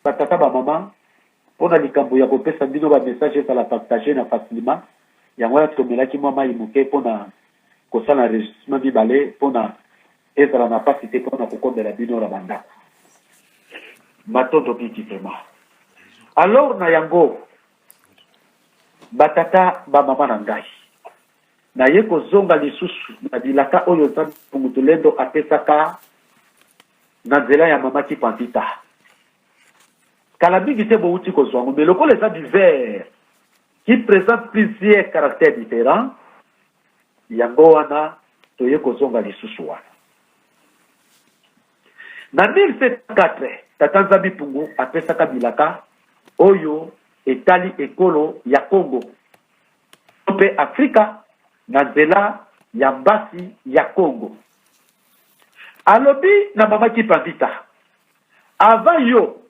Ba tata ba maman pona likambo ya kopesa bino ba message ezala partage na facilement yango wana tomelaki mwa mayi moke pona kosala enregistrement mibale pona ezala na pasi te pona kokomela bino na bandako matondo mingi vraiment alors na yango batata bamama na ngai naye kozonga lisusu na bilaka oyo nzambe mutulendo apesaka na nzela ya mama kipandita kala mingi te bowuti kozwa yango mais lokola eza du vert qui présente plusieurs caractères différents yango wana toye kozonga lisusu wana na 1704 tata nzambi pungu apesaka bilaka oyo etali ekolo ya congo mpe afrika na nzela ya mbasi ya congo Alobi na mama kipa vita avant yo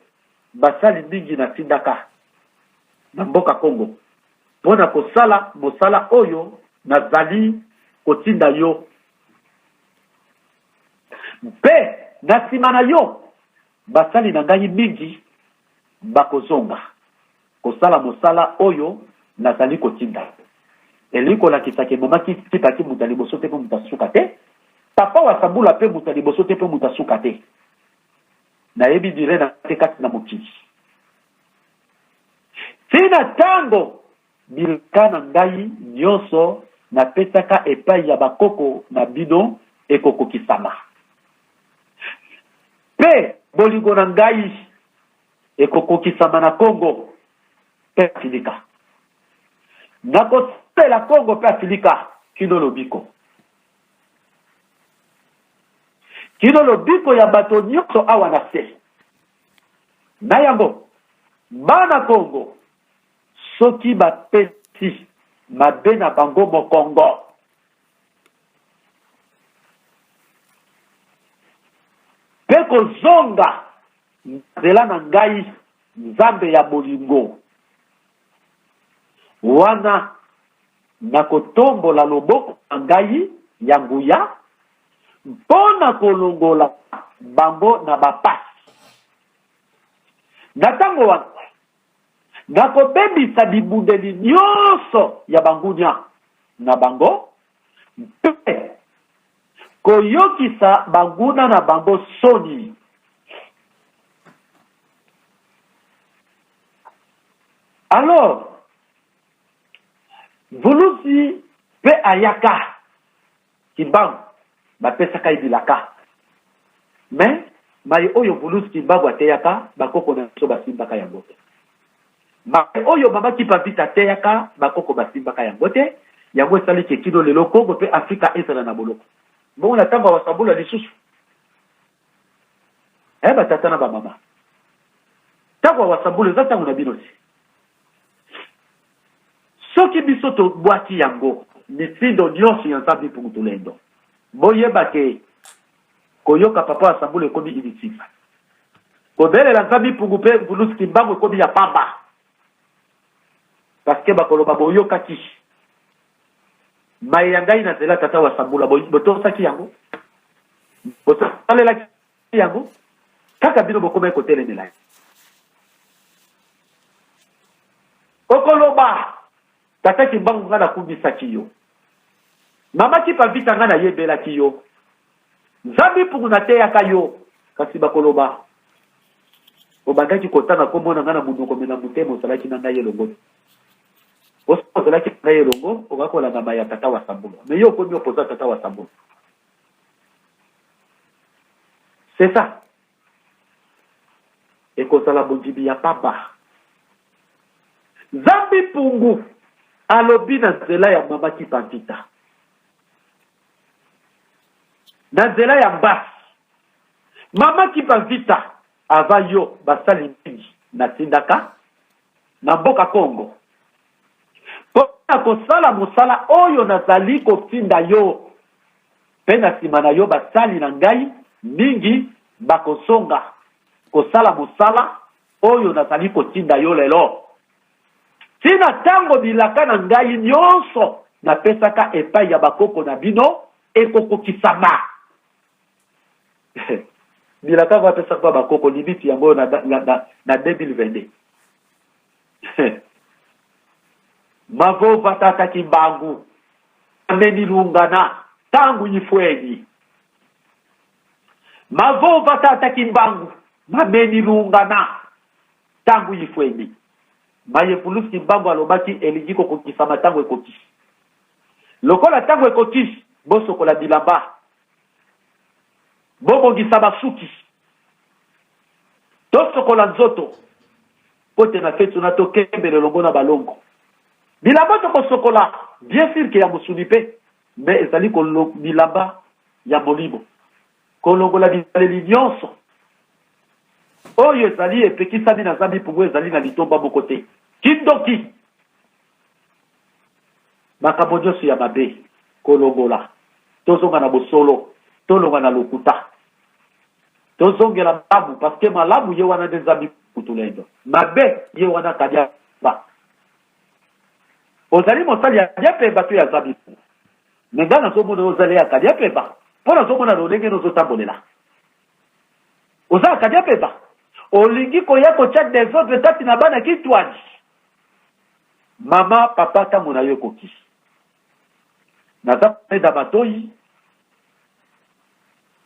basali mingi na tindaka na mboka congo pona kosala mosala oyo na zali kotinda yo mpe na sima na yo basali na ngai mingi bakozonga. Kosala mosala oyo nazali kotinda yo. Elingi kolakisa ke ebongaki tika ti moto ya liboso te pe moto ya suka te. Papa Wasabula pe moto ya liboso te pe moto ya suka te. Nayebi dire na te kati na mokili. Ti na tango bilaka na ngai nionso napesaka epayi ya bakoko na bino ekokokisama. Pe bolingo na ngai. ekokokisama na Congo mpe Afilika. Nakosalela Congo mpe Afilika kino lobiko. Kino lobiko ya bato nyonso awa na se. Na yango, bana Congo, soki bapesi mabe na bango mokongo, mpe kozonga Zela na ngai, Nzambe ya bolingo, wana nakotombola loboko na ngai ya nguya mpo na kolongola bango na bapasi. Na ntango wana, nakobebisa bibundeli nyonso ya bangunia na bango mpe Koyokisa banguna na bango soni. Alors, Vuluzi pe ayaka Kimbangu bapesaka ye bilaka mais maye oyo Vuluzi Kimbangu ateyaka bakoko na biso basimbaka yango te. Baye oyo babaki pa vita ateyaka bakoko basimbaka yango te, yango esali ke kino lelo Congo mpe Afrika ezala na boloko. Bongo na tango ya Wasambula lisusu? Eh ba tata na ba mama, tango ya Wasambula eza tango na bino te. Soki biso tobwaki yango, mitindo nionso ya Nzambi Mpungu Tulendo, boyeba ke, Koyoka papa wa sambula ekomi inutile. Kobelela nzambi mpungu mpe ngulusi kimbangu ekomi ya pamba. Parce que bakoloba boyokaki. Maye ya ngai na zela tata wa sambula botosaki yango. Bosalelaki yango. Kaka bino bokomaki kotelemela ye. Okoloba Tata kimbangu nga nakumisaki yo Mama kipa vita nga nayebelaki yo Zambi mpungu nateyaka yo Kasi bakoloba obandaki kotanga kombo na nga na monoko me na motema ozalaki na ngai elongo te osi ozalaki na ngai elongo okoki kolandama ya tata wa sambolo me yo okomi opoza tata wa sambolo c'est ça ekozala bondimi ya pamba. Zambi Mpungu alobi na nzela ya mama Kipanzita, na nzela ya mbasi mama Kipanzita ava yo basali mingi natindaka na mboka Kongo mpo na kosala mosala oyo nazali kotinda yo Mpe na nsima na yo basali na ngai mingi bakozonga kosala mosala oyo nazali kotinda yo lelo, tii na ntango bilaka na ngai nyonso napesaka epai ya bakoko na bino ekokokisama. bilaka yango apesaka mpo bakoko limiti yango oyo na, na, na, na 2022 Mavova tata kimbangu amemi lungana tangu yifueni Mavova tata kimbangu mamemi lungana tangu yifueni maye pulusi kimbangu alobaki elingi kokokisama tango ekokisi lokola tango ekokisi bosokola bilamba bobongisa basuki tosokola nzoto Mpo te na fetu na to kembela elongo na balongo. Bilamba to ko sokola bien sur que ya mosuni pe mais ezali ko bilamba ya molimo. Ko longola bizaleli nionso oyo ezali epekisami na zambi mpungu ezali na litomba moko te kindoki makambo nyonso ya mabe kolongola tozonga na bosolo tolonga na lokuta Tozongela malamu parce que malamu ye wana nde zambi kutulendo. Mabe ye wana kadia ba. Ozali mosali ya kadia pe batu ya zambi. Mais nga nazomona ozali ya kadia pe ba. Mpo nazomona lolenge nozotambolela. Oza ya kadia pe ba. Olingi koya kotya desordre kati na bana kitwani. Mama papa ntango na yo ekoki. Naza peda matoyi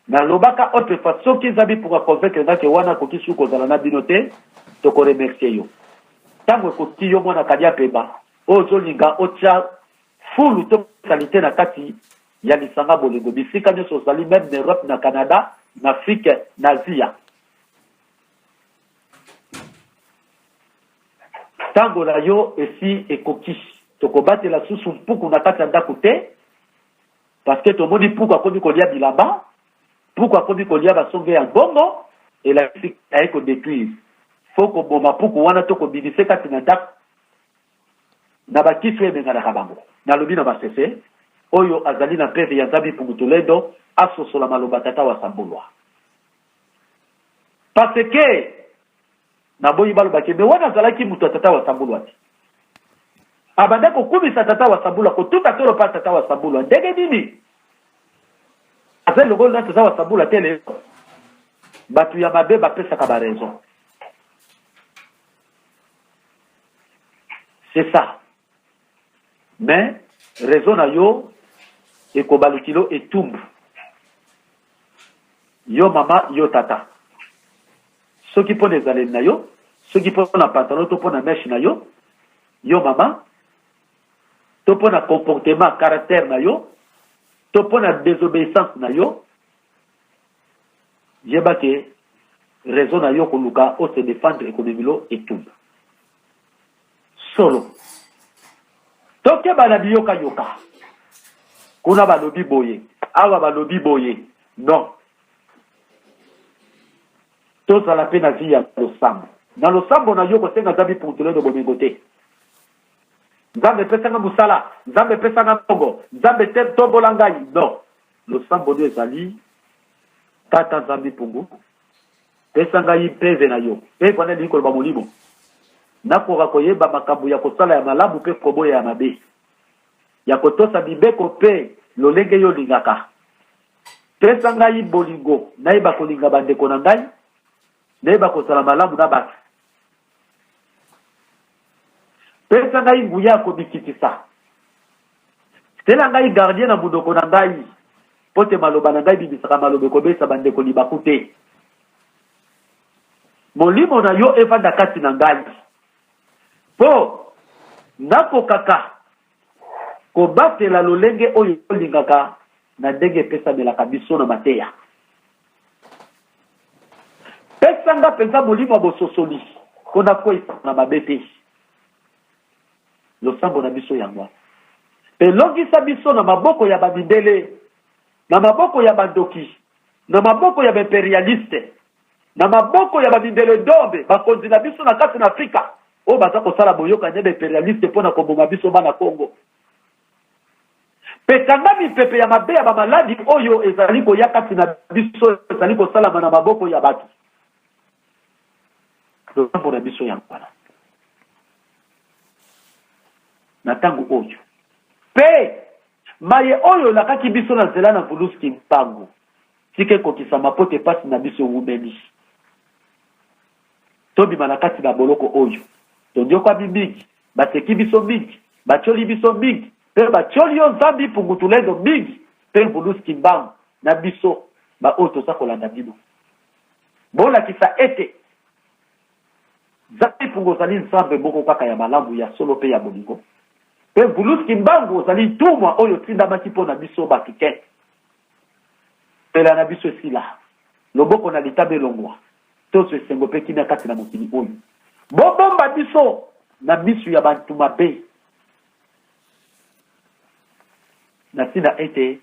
na lobaka autre fois soki eza bi pour convaincre nga ke wana akoki suku kozala na bino te toko remercier yo ntango ekoki yo mwana kadia pemba ozolinga otia fulu to salite na kati ya lisanga bolingo bisika nyonso ozali meme na europe na canada na afrique na asia ntango na yo esi ekoki tokobatela susu mpuku na kati ya ndako te parceke tomoni mpuku akomi kolia bilamba mpuku akomi kolia basonge ya mbongo elakisi aye kodetruire fo koboma mpuku wana to kobimisa kati na ndako na bakisi oyo ebenganaka bango nalobi na masese oyo azali na mpeve ya nzambi pungutulendo asosola maloba tata wa sambulwa parce que naboyi baloba ke me wana azalaki moto ya tata wa sabulu ati abanda kokumisa tata wa sabulu akotuta tolo mpa tata wa sabulu ndenge nini aza elongo na tata wa sabulu ate lelo bato ya mabe bapesaka baraison c'est ça mais raison na yo ekobali kilo etumbu yo mama yo tata soki mpo na ezaleli na yo soki mpo na pantalon to mpo na meshe na yo yo mama to mpo na comportement caractère na yo to mpo na désobéissance na yo yeba ke raison na yo koluka ose defendre ekomemilo etumba solo tokeba na biyokayoka kuna balobi boye awa balobi boye non tozala mpe na vi ya losambo na losambo na yo kosenga nzambe puntuledo bomengo te nzambe epesanga mosala nzambe epesanga mbongo nzambe te tombola ngai non losambo nde ezali tata nzambe mpungu Pesa ngai mpeve na yo. Mpeve wana elingi koloba molimo. Nakoka koyeba makambo ya kosala ya malamu mpe koboya ya mabe, ya kotosa mibeko mpe lolenge yo olingaka. Pesa ngai bolingo, nayeba kolinga bandeko na ngai, nayeba kozala malamu na bato, Pesa ngai nguya ya komikitisa. Tela ngai gardien na munoko na ngai, mpo te maloba na ngai bimisaka maloba ekobesa bandeko libaku te. Molimo na yo efanda kati na ngai, mpo nakokaka Kobatela lolenge oyo tolingaka na ndenge epesamelaka biso na mateya. Pesa nga mpenza molimo ya bososoli mpo nakweisa na mabe te. Losambo na biso yango wana. Mpe longisa biso na maboko ya bamindele, na maboko ya bandoki, na maboko ya baimperialiste, na maboko ya ba mindele dombe bakonzi na biso na kati na Afrika oyo baza kosala boyokani na ba imperialiste mpo na koboma biso bana Congo mpe kanga mipepe ya mabe ya bamaladi oyo ezali koya kati na biso ezali kosalama na maboko ya bato losambo na biso yango wana na ntango oyo mpe maye oyo olakaki biso na nzela na vuluski mpango Tika ekokisama mpo te pasi na biso ewumeli. Tobima na kati na boloko oyo. Tonyokwami mingi, baseki biso mingi, batioli biso mingi, mpe batioli yo zambi Pungutulendo mingi mpe Vulus Kimbangu na biso baoyo toza kolanda bino. Bolakisa ete zambi Pungu ozali Nzambe moko kaka ya malamu, ya solo mpe ya bolingo, mpe Vulus Kimbangu ozali ntumwa oyo otindamaki mpo na biso bato te, Mpela na biso esila, loboko na litabe elongwa, tozo esengo mpe kimia kati na mokili oyo. Bobomba biso na misu ya bantu mabe, na tina ete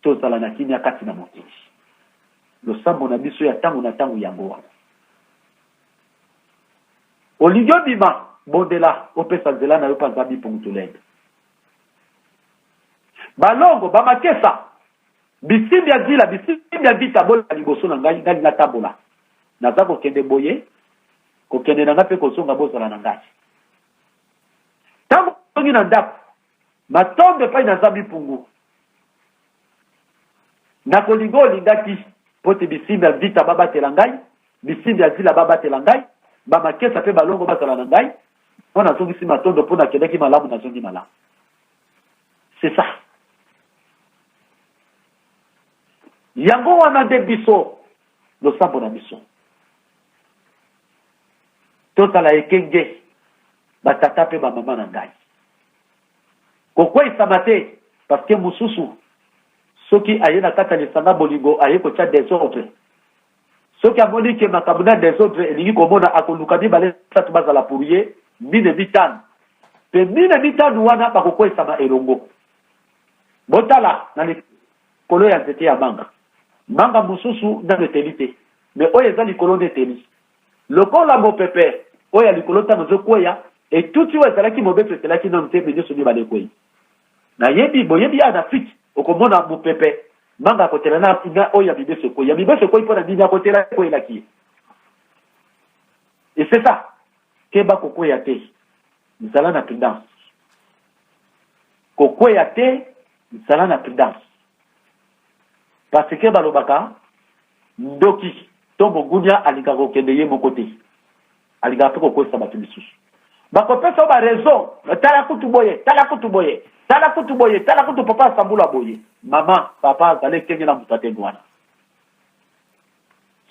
tozala na kimia kati na mokili. Losambo na biso ya tango na tango yango wana. Olingi obima? Bondela, opesa nzela na yo mpe Nzambe Ipungutulembe. Balongo, ba makesa, bisimbi ya zila, bisimbi ya vita, boleka liboso na ngai, ngai natambola. Naza kokende boye, kokende na ngai mpe kozonga, bozala na ngai. Ntango ozongi na ndako, matombe epai na Zambi Mpungu, nakolinga olingaki mpo te bisimbi ya vita babatela ngai, bisimbi ya zila babatela ngai, bamakesa mpe balongo bazala na ngai, mpo nazongisi matondo mpo nakendaki malamu nazongi malamu c'est ça yango wana nde biso losambo na biso tozala ekenge batata mpe bamama na ngai kokweisama te parceke mosusu soki aye na kati ya lisanga bolingo aye kotya desordre Soki amoni que makambo na desordre elingi komona, akoluka mibale misato bazala pour ye, mine mitano. Mpe mine mitano wana bakokweisama elongo. Botala na likolo ya nzete ya manga. Manga mosusu nano eteli te, mais oyo eza likolo nde eteli. Lokola mopepe oyo ya likolo ntango ezokweya, etuti oyo ezalaki mobesu etelaki nano te, mais nyonso mibale ekwei. Nayebi boyebi ya Anafrique okomona mupepe manga akotela na na oyo ya mibeso ekweyi ya mibeso ekweyi mpo na nini akotela ekweyelaki ye et c'est ça keba kokweya te zala na prudence kokweya te zala na prudence parce que balobaka ndoki to mogunia alingaka kokende ye moko te alingaka mpe kokwesa bato misusu bakopesa yo barezo tala kutu boye tala kutu boye tala kutu boye tala kutu papa asambula boye mama papa azali ekenge na moto atenge wana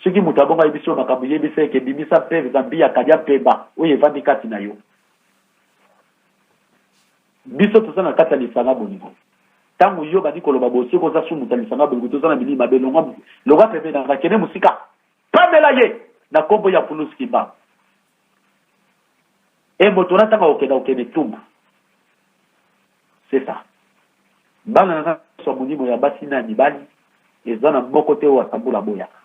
soki moto abongo ayebisi yo makambo yebisa eke bimisa mpe zambi ya kalia mpemba oyo evandi kati na yo biso toza na kati ya lisanga bolingo ntango yo obandi koloba bosoki oza su moto ya lisanga bolingo toza na bilili mabe longwa pembe na nga kende mosika Pamela ye na kombo ya Pulus Kimbangu. E moto na tanga okenda okende etumbu. C'est ça. Bana na nasa molimo ya basi na ya mibali eza na moko te oyo atambula boyaka.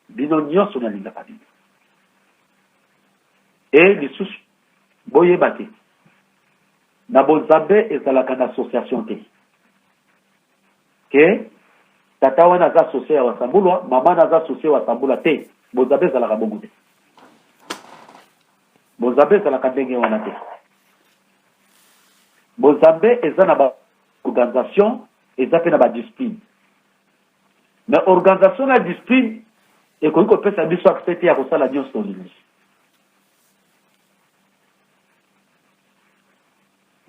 Bino nyonso nalingaka bino. E lisusu boyeba te na bonzambe ezalaka na association te. ke tata wana aza sosie ya wasambulwa mama wana aza sosie wasambula te bonzambe ezalaka bongo te bonzambe ezalaka ndenge wana te bonzambe eza na baorganisation eza mpe na badiscipline mais organisation na discipline ekoki kopesa biso accès te ya kosala nyonso olingi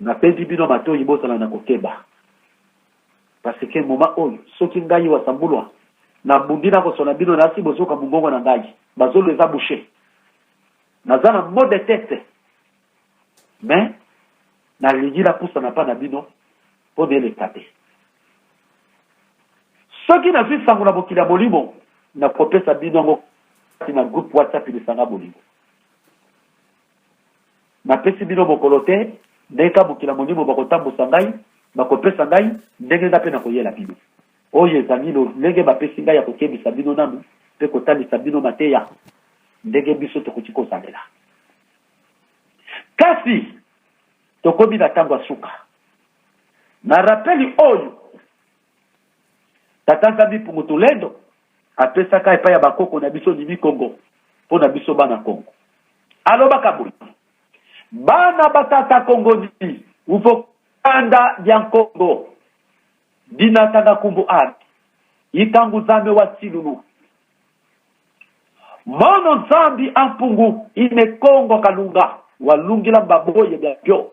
Nabendi bino matoyi bozala na kokeba parce que moment oyo soki ngai wasambulwa na bundi na kosona bino nasi bozoka mungongo na ngai bazolo eza bouche naza na mot de tete mais nalingi napusa na pa na bino mpo na eleka te soki nazwi sango na mokili ya molimo nakopesa bino yango kati na groupe whatsapp lisanga bolingo Napesi bino mokolo te, ndenge kaka mokili ya molimo bakotambusa ngai, bakopesa ngai, ndenge ngai mpe nakoyela bino. Oyo ezali lolenge bapesi ngai ya kokebisa bino nanu mpe kotalisa bino mateya ndenge biso tokoki kozalela. Kasi tokomi na ntango ya suka. Na rapeli oyo Tata Nzambi Mpungu Tulendo apesaka epai ya bakoko na biso Nimi Kongo mpo na biso bana Kongo. Alobaka boye, bana batata Kongo ni uvokanda dia Nkongo dinatanga kumbu ana ikangu Nzambi wa silulu mono Nzambi ampungu ine Kongo kalunga walungila mbaboye bya bio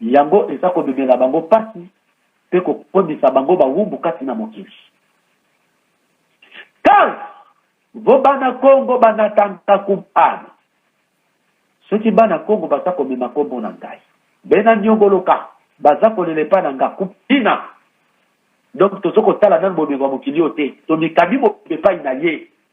Yango eza komemela bango pasi pe kokomisa bango bawumbu kati na mokili. Kas vo bana Kongo banatanga kumpana. Soki bana Kongo baza komema kombo na ngai, bena niongoloka, baza kolela epa na nga kumpina. Donc tozo kotala nanu bomengo ya mokili oyo te, tomikabi mobimba epai na ye.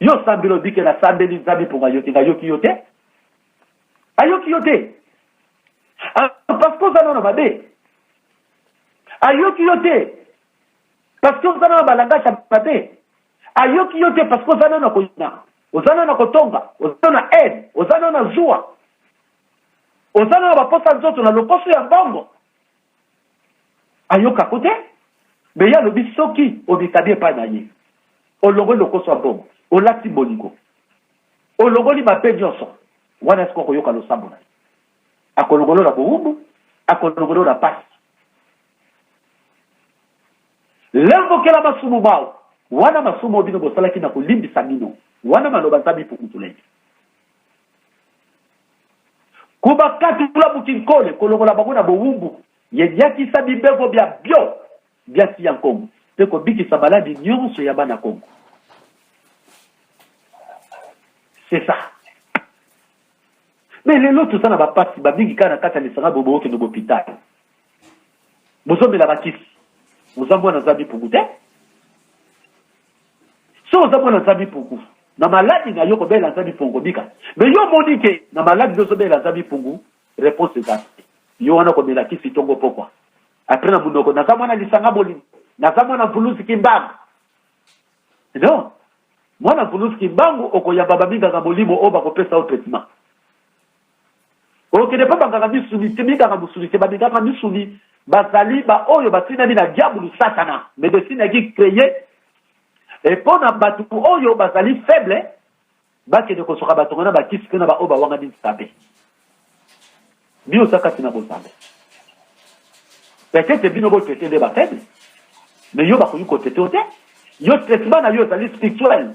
Yo sambela odi ke nasambeli Nzambe mpo ngayoki ngayoki yo te ayoki yo te ah, parce que oza nano mabe ayoki yo te parce que oza nano balangage ya mabe ayoki yo te parce que oza nano koyina oza nano kotonga oza na aide oza nano na zuwa oza nano baposa nzoto na lokoso ya mbongo ayoka ko te mais ye alobi soki omikabi epai na ye olongoli lokoso ya mbongo olati bolingo olongoli mabe nyonso wana esika okoyoka losambo na ye akolongolo na bowumbu akolongolo na pasi lembokela masumu mao wana masumu oyo bino bosalaki na kolimbisa bino wana maloba nzambe ipokutula ye Kobakatula Bukinkole, kolongola bango na bowumbu ya nyakisa mibeko bya byo bya tia Nkongo mpe kobikisa maladi nyonso ya bana Kongo. C'est ça. Mais lelo toza na bapasi bamingi kaka na kati ya lisanga boye bokokende bopitale bozomela bakisi oza mwana aza mipungu te Soki oza mwana nzambi pungu na maladi na yo kobela nzambi pungu kobika me yo omoni ke na maladi nde ozobela nzambi pungu reponse eza te yo wana komela kisi tongo pokwa apres na monoko naza mwana lisanga bolingo naza mwana mvuluzi kimbangu no mwana mvuluzi kimbangu okoyamba baminganga molimo oyo bakopesa yo traitement Okende mpe banganga misuni te, minganga mosuni te, baminganga misuni bazali baoyo batindami na diabulu satana medecine yaki creye epo na bato oyo bazali faible bakende kosoka batonga na bakisi mpe na baoyo bawangani nzambe bino oza kati na bozambe peut-être bino botete nde bafaible mais yo bakoki kotete yo te yo traitement na yo ezali spirituel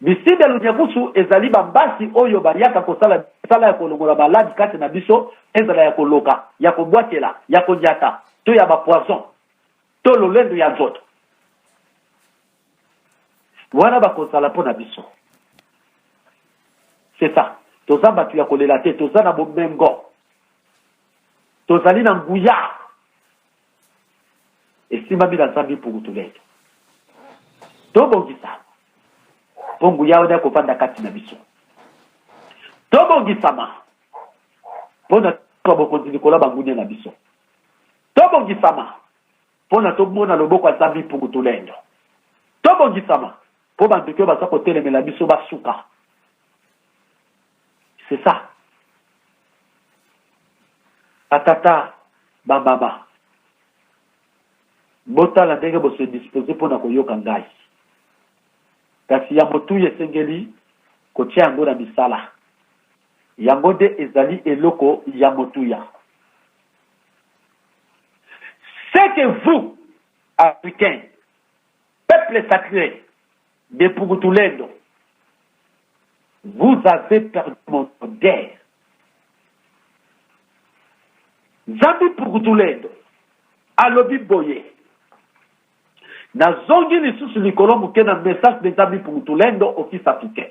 Bisida ya Lunyakusu ezali ba mpasi oyo bayaka kosala misala ya kolongola maladi kati na biso, ezala ya koloka, ya kobwakela, ya konyata to ya ba poison to lolendo ya nzoto. Wana bakozala mpo na biso. C'est ça. Toza batu ya kolela te, toza na bomengo. Tozali na nguya. esimba bino aza bipukutulete tobongisama mpo nguya wana akovanda kati na biso tobongisama mpo na twa bokonzi likolo ya bangunia na biso tobongisama mpo na tomona loboko ya zambi mpungutulendo tobongisama mpo bandoki oyo baza kotelemela biso basuka c'est ça batata bamama botala ndenge bose dispose mpo na koyoka ngai kasi ya motuya esengeli kotya yango na misala yango nde ezali eloko ya motuya ce que vous africain peuple sacré Depugutulendo vous avez perdu mon odeur zambi pukutulendo alobi boye nazongi lisusu likolo moke na message de zambi pukutulendo office africain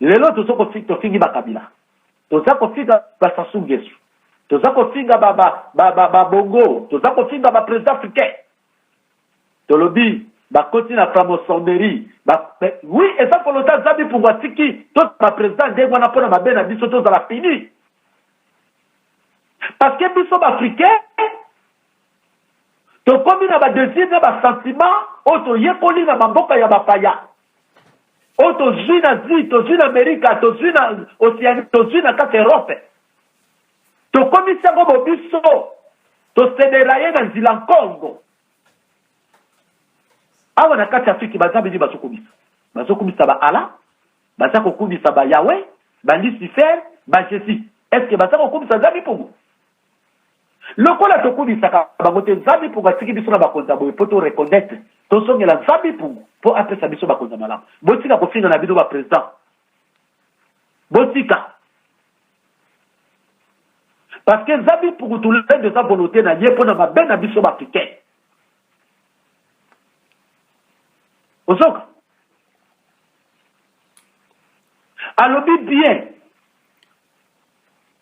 lelo tozo tofingi bakabila toza kofinga basasou ngesu toza kofinga babongo toza kofinga baprésident africain tolobi bakoti na framoçonnerie oui eza kolota zambi mpungu atiki tozala baprésident ndenge wana mpo na mabe na biso tozala pini parce que biso baafricain Tokomi na ba desirs na ba sentiments oyo toyekoli na ba mboka ya ba paya, oyo tozui na Asie, tozui na Amerika, tozui na Oceanie, tozui na kati Europe. Tokomisi yango bobiso, tosedera ye na nzila nkongo. Awa na kati Afriki baza bini bazokumisa? Bazokumisa ba Allah, baza kokumisa ba Yahweh, ba Lucifer, ba Jesus. Est-ce que baza kokumisa Nzambi Mpungu? Lokola tokumisaka bango te, Nzambe Mpungu atiki biso na bakonzi ya boye mpo to reconnaitre, tozongela Nzambe Mpungu mpo apesa biso bakonzi ya malamu. Botika kofinga na bino ba president, botika parce que Nzambe Mpungu tulendo eza volonte na ye mpo na mabe na biso bafricain. Ozoka alobi bien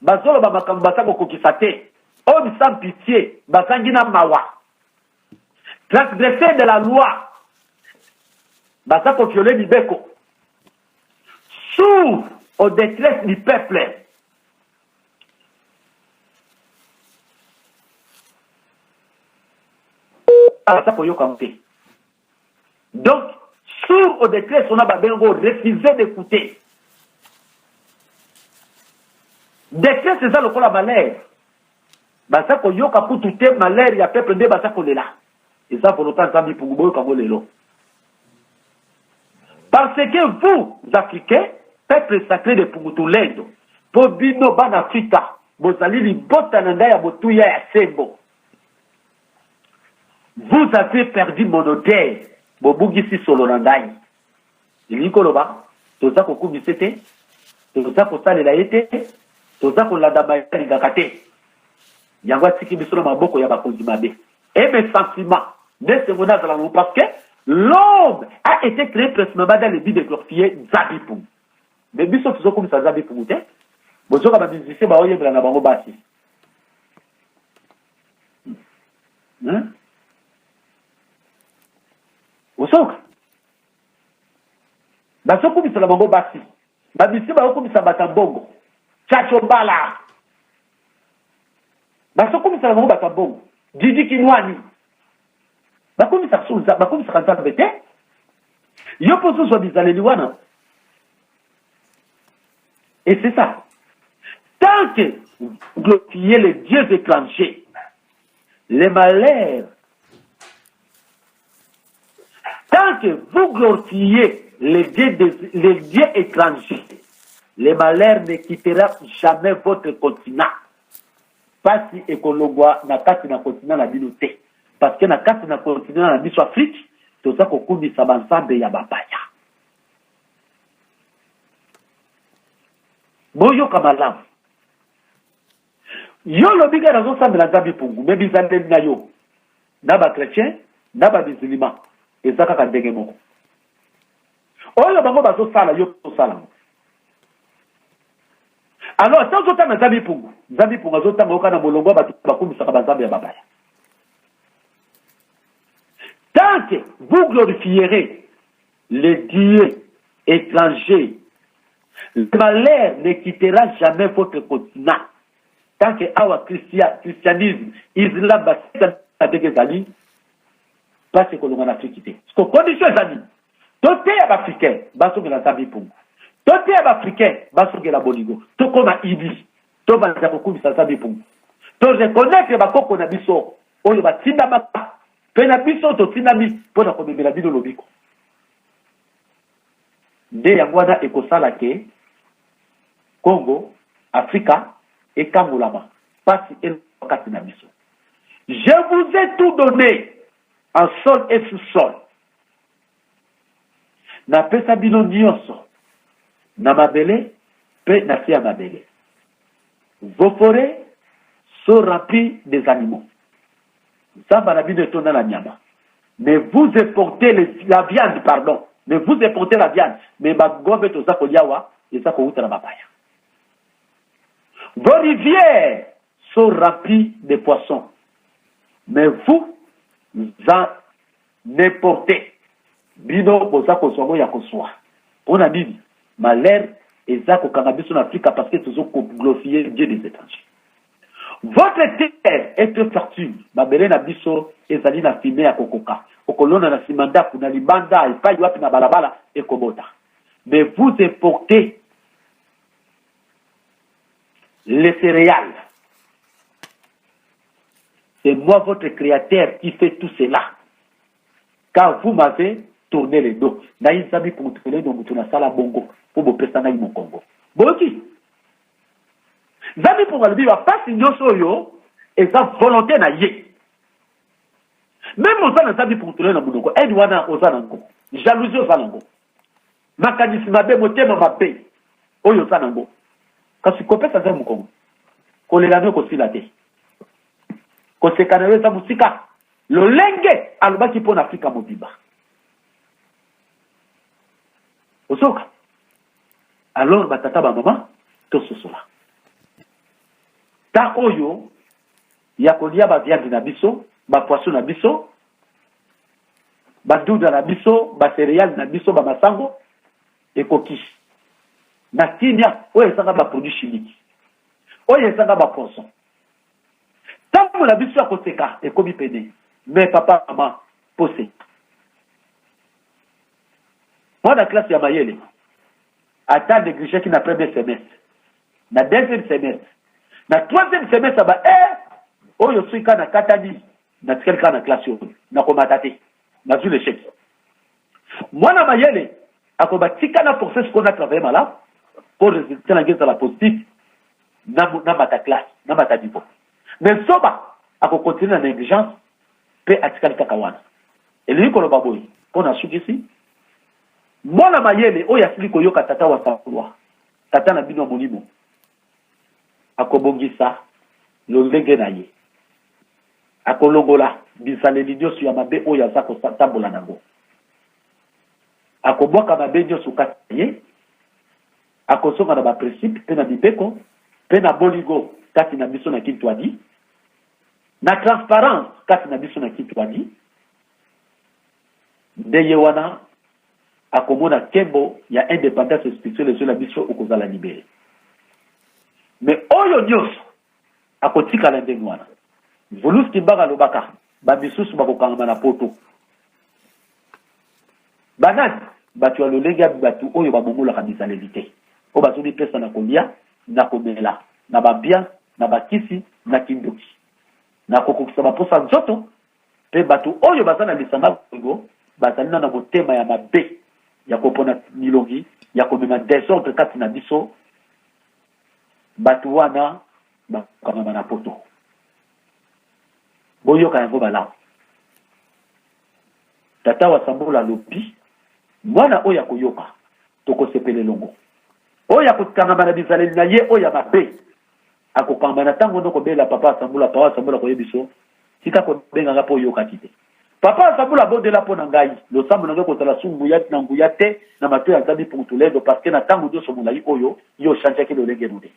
Bazoloba makambo baza kokokisa te. Homme sans pitie bazangi na mawa. Transgresseur de la loi baza kovioler mibeko sourd au detresse du peuple. Baza koyoka mpe. donc sourd au decret sona babengi ngo refuse d'écouter decret eza lokola malheur baza koyoka kutu te malheur ya peuple nde baza kolela eza volonta nzambe ipungu boyoka ngo lelo parce que vous africains peuple sacré de pungutulendo mpo bino bana afrika bozali libota na ngai ya botuya ya sembo Vous avez perdu mon odeur bobugisi solo na ngai elingi koloba toza kokumisa te toza kosalela ye te toza kolanda baye alingaka te yango atiki biso na maboko ya bakonzi mabe e mes sentiments nde esengo nazala nango parce que l'homme a été créé principalement dans le but de glorifier nzambi mpungu mais biso tozokumisa nzambi mpungu te bozoka bamusicien baoyembela na bango basi hmm? osoka bazokumisela bango basi babisi bakokumisa bato ya bongo chacho mbala bazokumisela bango bato ya bongo didi kinwani bakumisaka nzambe te yo mpo ozozwa bizaleli wana Et c'est ça. Tant que vous glorifiez les dieux étrangers, les malheurs, tant que vous glorifiez les dieux, des, les dieux étrangers, les malheurs ne quitteront jamais votre continent. pasi ekologwa na kati na kontina na bino te parce que na kati na kontina na biso afrique toza kokumisa banzambe ya bapaya boyoka malamu yo lobi kaka nazosambela nzambe mpungu me bizaleli na yo na bachrétien na bamizilima eza kaka ndenge moko oyo bango bazosala yo osala yango alors ata ozotanga nzambe mpungu nzambe mpungu azotanga yoka na molongo ya bato bakumisaka banzambe ya babaya tant que vous glorifierez Le Dieu étranger, le malheur ne quittera jamais votre continent. Tant que awa Christian, christianisme, Islam, basika ndenge ezali, place ekolonga na Afrique te. Siko condition ezali, toteya baafricain bazongela nzambe mpungu, toteya baafricain bazongela bolingo, tokoma idi, tobanda kokumisa nzambe mpungu, toreconnaitre bakoko na biso oyo batindamaka Mpe na biso totindami mpo na komemela bino lobiko. Nde yango wana ekosala ke Congo, Afrika ekangolama, mpasi elongwa kati na biso. Je vous ai tout donne en sol et sous sol. Napesa bino nyonso, na mabele pe na se ya mabele. Vos forets sont remplies des animaux. Zamba na bino etonda na nyama. Mais vous importez les, la viande, pardon. Mais vous importez la viande. Mais ba ngombe toza kolia wa eza kowuta na bapaya. Vos rivières sont remplies de poissons. Mais vous en N'importe. Bino boza kozwa boya kozwa. Pona nini? Malheur eza kokanga biso na Afrika parce que tozo ko glorifier Dieu des etrangers. Votre terre est très fertile. Mabele na biso ezali na fumier ya kokoka. Okolona na sima ndaku, na libanda, epayi wapi na balabala ekobota. Mais vous importez les céréales C'est moi votre créateur qui fait tout cela. Car vous m'avez tourné le dos. Ngai nzambi kuntupele no mutu nasala bongo mpo bopesa ngai mokongo. Boyoki? Nzambi mpongo alobi bapasi nyonso oyo eza volonté na ye. Meme oza na nzambi kuntupele na monoko, aide wana oza nango, jalousie oza nango. Makanisi mabe, motema mabe oyo oza nango, kasi kopesa nzambe mokongo, kolela no ekosila te, koseka na yo eza mosika. Lolenge alobaki mpo na Afrika mobimba, ozoka alors batata bamama tososola ta oyo ya kolia ba viande na biso, ba poisson na biso, ba duda na biso, ba cereale na biso, ba masango ekoki na kimia oyo ezanga ba produit chimique oyo ezanga ba poison ntango na biso ya koseka ekomi pene me papa mama pose mwana klase ya mayele ata negligeki na premier semestre na deuxième semestre na troisième semestre ba e oyo soki kaka nakatani natikali kaka na classe oyo nakomata te nazwi l'échec mwana mayele akoba tika na force sikoyo na travaille malamu mpo résultat nange ezala positif namata classe namata niveau mais zoba akokontinue na negligence mpe atikali kaka wana elingi koloba boye mpo nasukisi Mwana mayele oyo asili koyoka Tata wa Tangwa, Tata na bino ya Molimo, akobongisa lolenge na ye. Akolongola bizaleli nyonso ya mabe oyo aza kotambola na yango. Akobwaka mabe nyonso kati na ye, akozonga na baprincipe mpe na mibeko mpe na bolingo kati na biso na Kintwadi, na transparence kati na biso na Kintwadi, nde ye wana akomona kembo ya independance spirituelle ezwela biso okozala libere me oyo nyonso akotikala ndenge wana volus kimbaka alobaka bamisusu bakokangama na poto banani bato ya lolenge ya bato oyo babongolaka bizaleli te oyo bazomipesa na kolia na komela na bambia na bakisi na kindoki na kokokisa baposa nzoto Mpe bato oyo baza na lisanga lego bazali na na motema ya mabe ya kopona milongi ya komema desordre kati na biso, bato wana bakokangama na poto. Boyoka yango malamu. Tata wa Sambola alobi, mwana oyo akoyoka, tokosepela elongo. Oyo akokangama na bizaleli na ye oyo ya mabe, akokamba na tango no kobela papa asambula papa asambula koyebiso tika kobenga nga po oyokaki te papa asambula abondela po na ngai losambo na ngai kozala su nguya na nguya te na mato ya nzambi pungutuledo parce que na tango nyonso molai oyo yo ochangeaki lolenge no te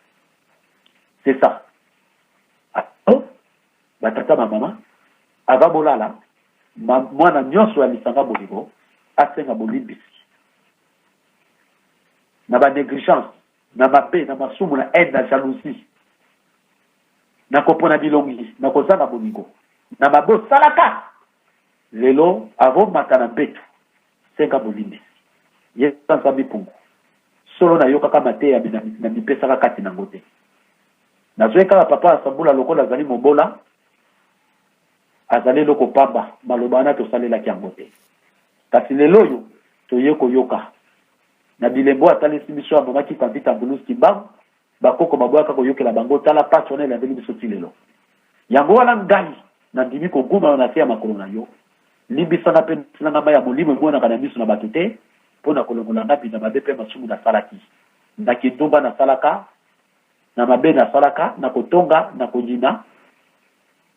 c'est ça ato batata ba mama ava bolala mwana nyonso ya lisanga bolingo asenga bolimbisi na banégligence na mabe, na masumu, na haine, na jalousie, na kopona bilongi, na kozanga bolingo, na mabe osalaka lelo avomata na mbetu, senga bolimbisi. Yesu Nzambe mpungu solo nayokaka mateya na mipesaka kati nango te nazwaki kaka papa asambula lokola azali mobola azali eloko pamba maloba wana tosalelaki yango te kasi lelo oyo toye koyoka Na bilembo oyo atalisi biso, abomaki Kavita Bulus Kimbangu, bakoko baboyaka koyokela bango, tala pasi wana elandeli biso ti lelo. Yango wana ngai, nandimi kogumama na se ya makolo na yo, limbisa nga mpe nokisela nga mai ya molimo emonanaka na miso na bato te, mpo na kolongola nga bina mabe mpe masumu nasalaki, na kindumba nasalaka, na mabe nasalaka, na kotonga, na koyina,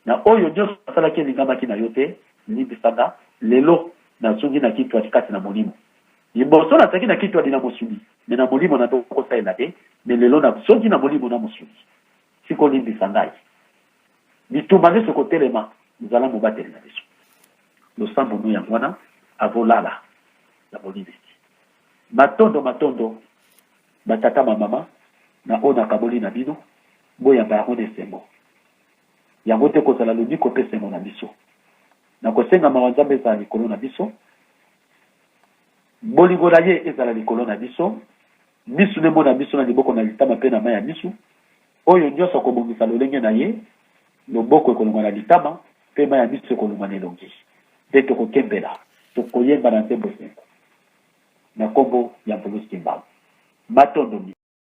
Na oyo nionso nasalaki elingamaki na yo te, limbisa nga, lelo nazongi na kitwadi kati na molimo. Liboso nazalaki na kitwadi na mosuni, mais na molimo na ndoki kosalela te, mais lelo nazongi na molimo na mosuni. Sikoyo limbisa ngai. Bitumba nionso ekotelema, zala mobateli na biso. Losambo no yango wana, avo lala na bolimbisi. Matondo, matondo ba tata ma mama na oyo nakaboli na bino, boyamba yango na esengo. yango te kozala lobiko mpe esengo na biso. Na kosenga mawa Nzambe ezala likolo na biso, bolingo na ye ezala likolo na biso, misu na emona biso na liboko na litama mpe na mai ya misu, oyo nyonso akobongisa lolenge na ye, loboko ekolongwa na litama mpe mai ya misu ekolongwa na elongi, mpe tokokembela, tokoyemba na nzembo esengo na nkombo ya Mvuluzi Kimbangu. Matondo mingi.